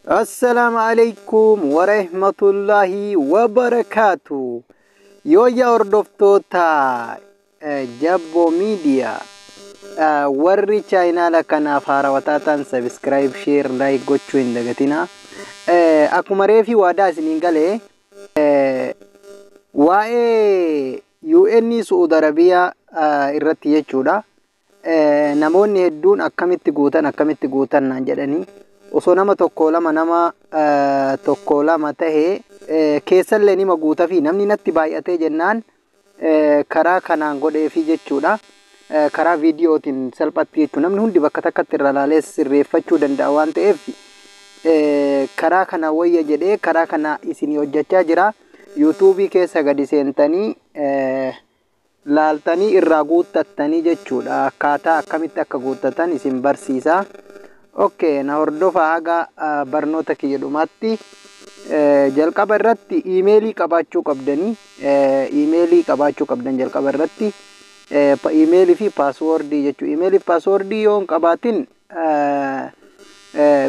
Assalaamu alaikum warahmatullahi wabarakaatu. Yooyyaa hordoftoota Jabbo Miidiyaa warri chaayinaala kanaaf haarawaa taatan sabiskiraayib sheer laayik gochuu hin dagatina. Akkuma reefi waadaa isiniin galee waa'ee UN Su'uud Arabiyaa irratti jechuudha. eh, namoonni hedduun akkamitti guutan akkamitti guutan naan jedhanii osoo nama tokko lama nama eh, tokko lama tahe eh, keessallee nima guutafii namni natti baay'atee jennaan eh, karaa kanaan godheefii jechuudha. Eh, karaa viidiyootiin salphatti jechuudha. Namni hundi bakka takkatti irra ilaalee sirreeffachuu danda'a waan ta'eef eh, karaa kana wayya jedhee karaa kana isinii hojjechaa jira. Yuutuubii keessa gadi seentanii eh, laaltanii irraa guuttattanii jechuudha akkaataa akkamitti akka guuttatan isin barsiisa ok na hordofaa haga barnoota kiyya dhumaatti jalqaba irratti iimeelii qabaachuu qabdanii iimeelii qabaachuu qabdan jalqaba irratti iimeelii fi paaswoordii jechuu iimeelii fi paaswoordii yoo hin qabaatin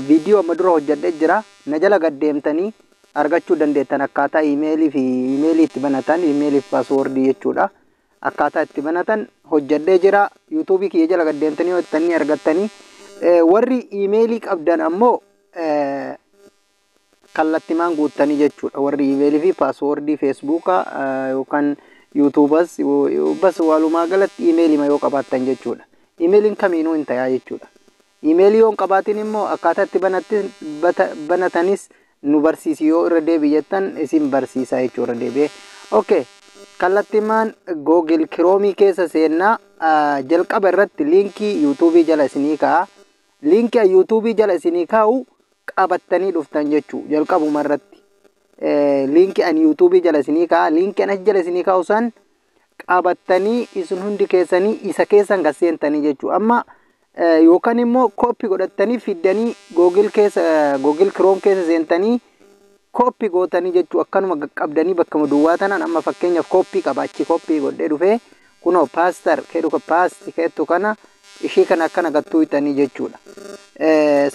viidiyoo amma dura hojjedhe jira na jala gaddeemtanii argachuu dandeettan akkaataa iimeelii fi iimeelii itti banatan iimeelii fi paaswoordii jechuudha akkaataa itti banatan hojjedhee jira yuutuubii kiyya jala gad deemtanii yoo jettan ni argattanii Eh, warri iimeelii qabdan ammoo eh, kallattimaan guuttanii jechuudha warri iimeelii fi paaswoordii feesbuukaa eh, yookaan yuutuubas yo- yo- bas walumaa galatti iimeelima yoo qabaattan jechuudha iimeeliin kamiinuu hin tayaa jechuudha Email yoo hin qabaatin immoo akkaataa itti banatti bata banatanis nu barsiisi yoo irra deebi jettan isin barsiisa jechuu irra deebi'e. Okay. Kallattimaan Google Chrome keessa seennaa ah, jalqaba irratti liinkii YouTube jala isinii ka'a. Liinkii YouTube jala isinii kaa'u qabattanii dhuftan jechuu jalqabuma irratti. Eh, liinkii an YouTube jala isinii ka'a. Liinkii an achi jala isinii kaa'u san qabattanii isin hundi keessanii isa keessan kan seentanii jechuu amma yookaan immoo kooppi godhattanii fiddanii googil keessa googil kiroom keessa seentanii kooppi gootanii jechuu akkanuma qaqqabdanii bakkuma duwwaa tanaan amma fakkeenyaaf kooppii qaba achi kooppii godhee dhufee kunoo paastar keedu ka paasti keettu kana ishii kana akkana gattuu hixanii jechuudha.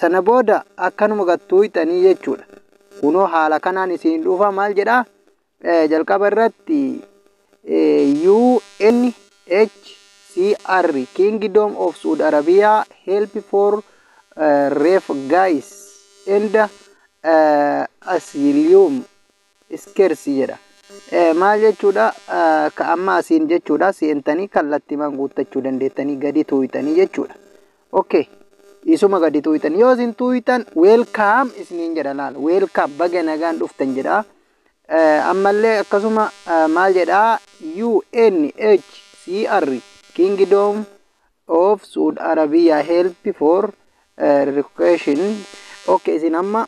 Sana booda akkanuma gattuu hixanii jechuudha. Kunoo haala kanaan isin dhufa maal jedhaa? Jalqaba irratti UNHCR Kingdom of Saudi Arabia Help for Refugees and Asylum Seekers jedha. Maal jechuudha? Ka amma asiin jechuudha seentanii kallattimaan guuttachuu dandeettanii gadi tuuytanii jechuudha. Okay. Isuma gadi tuuytan. Yoo isin tuuytan weelkaam isiniin jedha laal. Weelkaam baga nagaan dhuftan jedha. ammallee akkasuma maal jedhaa UNHCR Kingdom of Saud Arabia help for relocation ok isin amma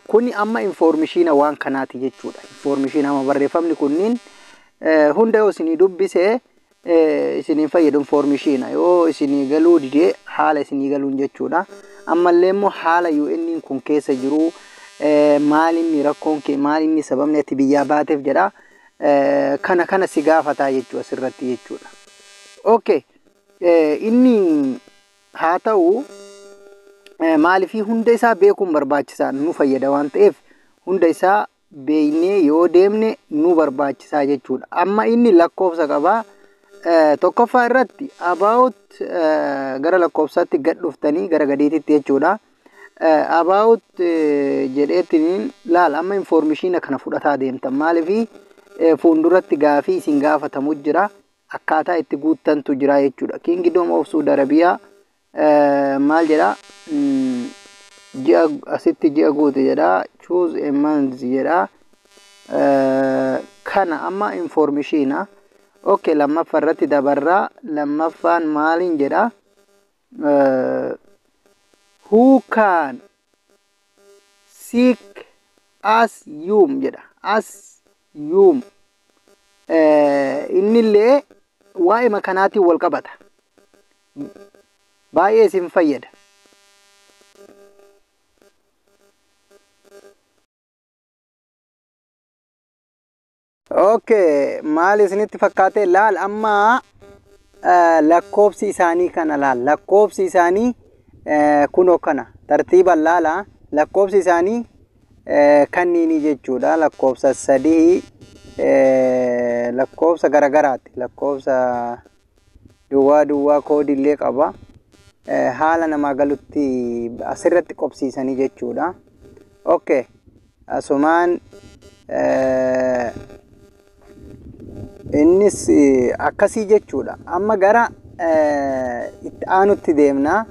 kuni amma informishiina waan kanaati jechuudha informishiina amma barreeffamni kunniin hunda yoo isinii dubbise isin hin fayyadun foormii shiina yoo isinii galuu didee haala isinii galuun jechuudha ammallee immoo haala UN kun keessa jiru maalinni rakkoon kee maalinni sababni ati biyyaa baateef jedha kana kana si gaafataa jechuu asirratti jechuudha okay inni haa ta'u maaliifii hunda isaa beekuun barbaachisaa nu fayyada waan ta'eef hunda isaa beeknee yoo deemne nu barbaachisaa jechuudha. Amma inni lakkoofsa qaba. Eh, Tokkoffaa irratti about eh, gara lakkoofsaatti gad dhuftanii gara gadiititti jechuudha. Eh, About eh, jedheetiin laal amma informeeshiina kana fudhataa deemtan maaliifi eh, fuulduratti gaafii isin gaafatamu jira akkaataa itti guuttantu jira jechuudha. Kingdom of Saudi Arabia maal jedha ji'a asitti ji'a guute jedha choose a month jedha kana amma informishiina ok lammaffa irratti dabarraa lammaffaan maaliin jedha who can seek as yuum jedha as yuum innillee waa'ima kanaatiin wal qabata baay'ee isin fayyada. Okay, maal isinitti fakkaate laal amma eh, lakkoofsi isaanii kana laal lakkoofsi isaanii eh, kunoo kana tartiiban laala lakkoofsi isaanii eh, kanniini jechuudha lakkoofsa sadii eh, lakkoofsa garagaraati lakkoofsa duwwaa duwwaa koodii illee qaba. Haala namaa galutti asirratti qobsiisanii jechuudha. Okay. Asumaan innis akkasii jechuudha. Amma gara itti aanutti deemna.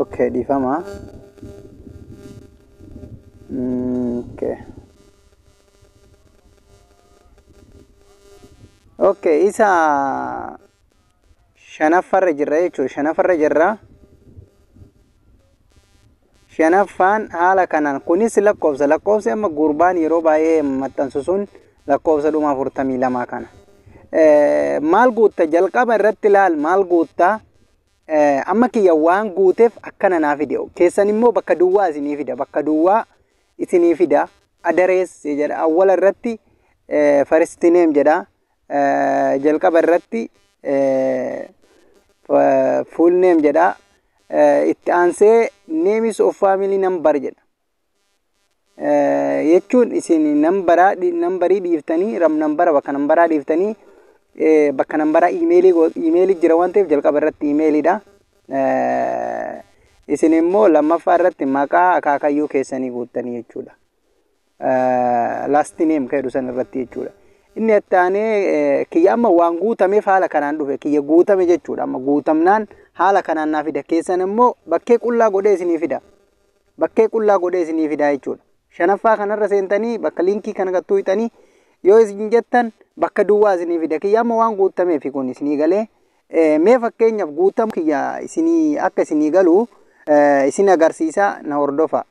Okay, dhiifama. Okay. Okay, isa shanaffarra jirra jechuudha. Shanaffarra jirra. Shanaffaan haala kanaan kunis lakkoofsa. Lakkoofsi amma gurbaan yeroo baay'ee maxxansu sun lakkoofsa dhuma afurtamii lama kana. Eh, Maal guutta jalqaba irratti laal maal guutta Eh, amma kiyya waan guuteef akkana naa fide keessan immoo bakka duwwaa isinii fida bakka duwwaa isinii fida address jedha awwala irratti eh, first name jedha eh, jalqaba irratti eh, fa- full name jedha eh, itti aansee names of family number jedha Eh, jechuun isin nambaraa dhi- nambarii dhiiftanii ram nambara bakka nambaraa dhiiftanii eh, bakka nambaraa iimeelii go- iimeelii jira waan ta'eef jalqaba irratti iimeeliidha isin immoo lammaffaa irratti maqaa akaakayyuu keessanii guuttanii jechuudha. Last name kan jedhu san irratti jechuudha. Inni itti aanee kiyya amma waan guutameef haala kanaan dhufe kiyya guutame jechuudha. Amma guutamnaan haala kanaan naa fida keessan immoo bakkee qullaa godhee isinii fida. Bakkee qullaa godhee isinii fida jechuudha. Shanaffaa kanarra seentanii bakka liinkii kana gattuu hixanii yoo isin jettan bakka duwwaa isinii fida. Kiyya amma waan guutameef kun isinii galee Mee fakkeenyaaf guutamuu kiyya isinii akka isinii galu isin agarsiisa na hordofa.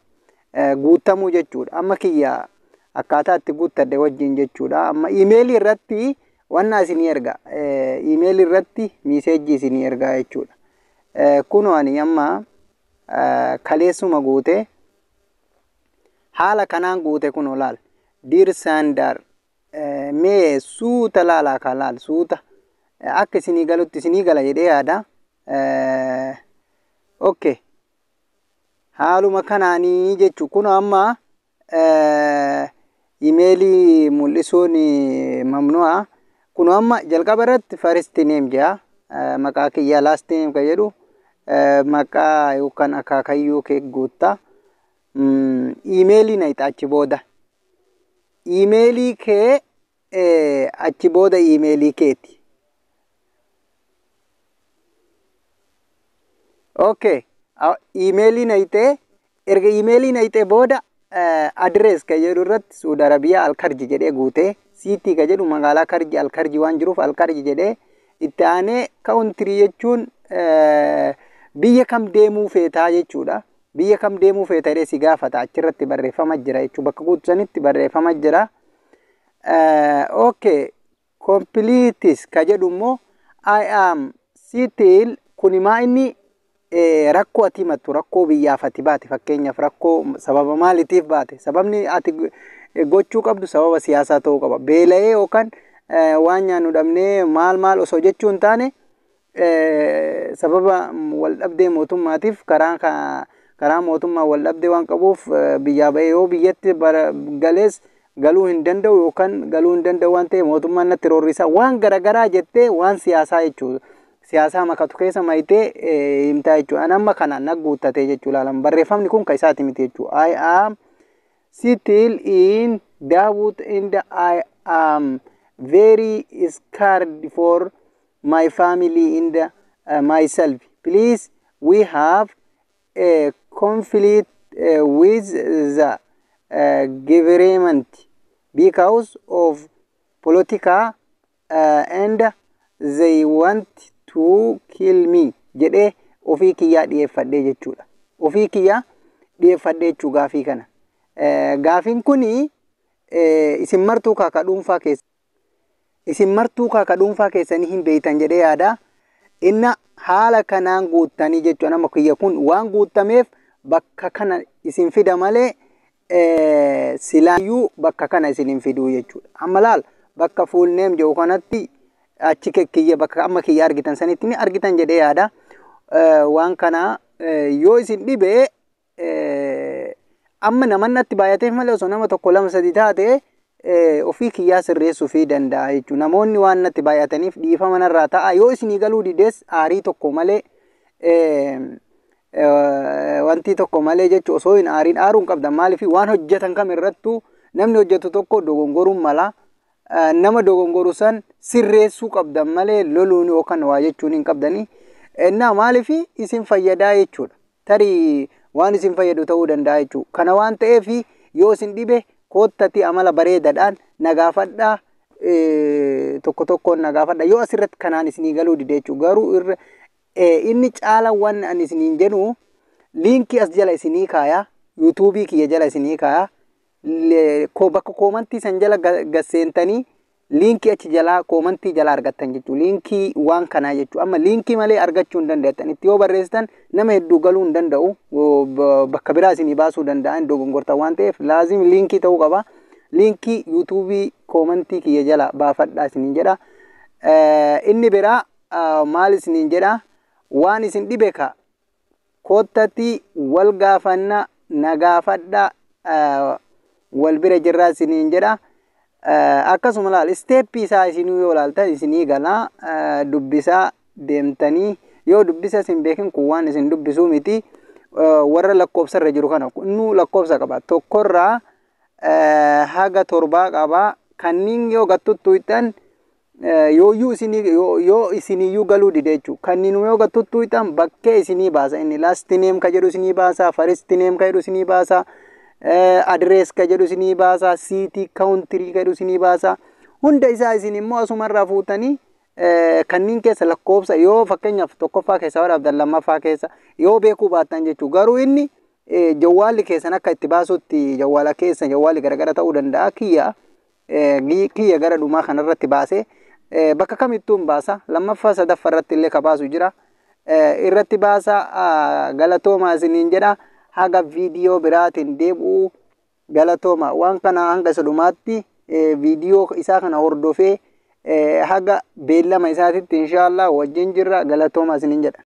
Guutamuu jechuudha. Amma kiyya akkaataa itti guuttadhe wajjin jechuudha. Amma iimeelii irratti wannaa isinii erga. Iimeelii irratti miiseejjii isinii ergaa jechuudha. Kunoo ani amma kaleessuma guute haala kanaan guute kunoo laal. Diir Saandaar mee suuta laalaa kaa laal suuta akka isinii galutti isinii gala jedhee yaada. Okke haaluma kanaanii jechu kun amma imeelii mul'isuun mamnu'a. Kun amma jalqaba irratti first name jedha maqaa kiyya last name kan jedhu maqaa yookaan akaakayyuu kee guutta. Imeelii na hixaachi booda. Iimeelii kee achi booda iimeelii keeti. Okay. Iimeelii nayxee erga iimeelii nayxee booda adirees ka jedhu irratti Suud Arabiyaa Alkarji jedhee guutee siitii ka jedhu magaalaa Karji Alkarji waan jiruuf Alkarji jedhee itti aanee kaawuntirii jechuun biyya kam deemuu feetaa jechuudha. Biyya kam deemuu feeta jedhee si gaafata achirratti barreeffama jira jechuu bakka guutu sanitti barreeffama jira. Okay completes ka jedhu immoo I am still kuni maa inni rakkoo ati himattu rakkoo biyyaaf ati baate fakkeenyaaf rakkoo sababa maalitiif baate sababni ati gochuu qabdu sababa siyaasaa ta'uu qaba beela'ee yookaan waan nyaannu dhabnee maal maal osoo jechuu hin taane sababa waldhabdee mootummaatiif karaa karaa mootummaa waldhabdee waan qabuuf biyyaa ba'ee yoo biyyatti galees galuu hin danda'u yookaan galuu hin danda'u waan ta'e mootummaan natti roorrisaa waan garagaraa jettee waan siyaasaa jechuudha. Siyaasaa makatu keessa mayitee himtaa jechuudha. An amma kana na guuttatee jechuu ilaalan barreeffamni kun kan isaati miti jechuudha. I am still in doubt and I am very scared for my family in the uh, myself please we have a conflict uh, with the uh, government because of politica uh, and they want to kill me jedhee ofii kiyyaa dhiyeeffadhee jechuudha. Ofii kiyyaa dhiyeeffadhee jechuu gaafii kana. Eh, Gaafiin kun isin martuu kaakaa dhuunfaa keessa Isin martuu kaa ka dhuunfaa keessanii hin beeytan jedhee yaada. Inna haala kanaan guuttanii jechuudha nama kiyya kun waan guuttameef bakka kana isin fida malee silaayyuu bakka kana isin hin fiduu jechuudha. Amma laal bakka full name jedhu kanatti achi kiyya bakka amma kiyya argitan sanitti ni argitan jedhee yaada. Waan kana yoo isin dhibee amma naman natti baay'ateef malee osoo nama tokko lama sadi taate ofii kiyyaa sirreessuu fi danda'a jechuudha. Namoonni waan natti baay'ataniif dhiifama narraa ta'a. Yoo isinii galuu dides aarii tokko malee wanti tokko malee jechuun osoo hin aariin aaruu hin qabdan maaliif waan hojjetan kam irrattuu namni hojjetu tokko dogongoruun mala. Nama dogongoru san sirreessuu qabdan malee loluun yookaan waa jechuun hin qabdanii. Innaa maaliif isin fayyadaa jechuudha. tarii waan isin fayyadu ta'uu danda'a jechuudha. Kana waan ta'eef yoo isin dhibe koottati amala bareedadhaan na gaafadha tokko tokkoon na gaafadha yoo asirratti kanaan isinii galuu dide jechuudha. Garuu irra inni caala waan ani isiniin jedhu liinkii as jala isinii kaaya yuutuubii kiyya jala isinii kaaya bakka koomantii san jala gasseentanii Liinkii achi jalaa koomantii jalaa argattan jechuudha. Liinkii waan kanaa jechuudha. Amma liinkii malee argachuu hin dandeettan. Itti yoo barreessitan nama hedduu galuu hin danda'u. Bakka biraa isinii baasuu danda'a hin dogongortan waan ta'eef laazim liinkii ta'uu qaba. Liinkii yuutuubii koomantii kiyya jalaa baafadhaa isiniin jedha. Inni biraa maal isiniin jedha waan isin dhibe ka Koottatii wal gaafanna na gaafadha wal bira jirraa isiniin jedha. Akkasuma laal isteeppii isaa isinuu yoo laaltan isinii gala dubbisaa deemtanii yoo dubbisa isin beekin kun waan isin dubbisuu miti warra lakkoofsa irra jiru kana innuu lakkoofsa qaba tokkorraa haga torbaa qaba kanniin yoo gattuttuuxxan yooyyuu isinii yoo- yoo isiniyyuu galuu dide jechuudha. Kanniinuma yoo gattuttuu hitan bakkee isinii baasa inni lasti neem ka jedhu isinii baasa faristi neem ka jedhu isinii baasa adirees ka jedhu isinii baasa siitii kaawuntirii ka jedhu isinii baasa hunda isaa isin immoo asumarraa fuutanii eh, kanniin keessa lakkoofsa yoo fakkeenyaaf tokkoffaa keessa waraabdan lammaffaa keessa yoo beekuu baattan jechuu garuu inni eh, jawwaalli keessan akka itti baasutti jawwaala keessa jawwaalli garagara ta'uu danda'a kiyya kiyya gara dhumaa kana irratti baasee bakka kamittuun baasa lammaffaa sadaffa irratti illee ka baasu jira irratti baasa galatoomaa isiniin jedha haga viidiyoo biraatiin deebi'u galatooma waan kana hanga isa dhumaatti viidiyoo isaa kana hordofee haga beellama isaatitti inshaallah wajjin jirra galatooma isiniin jedha.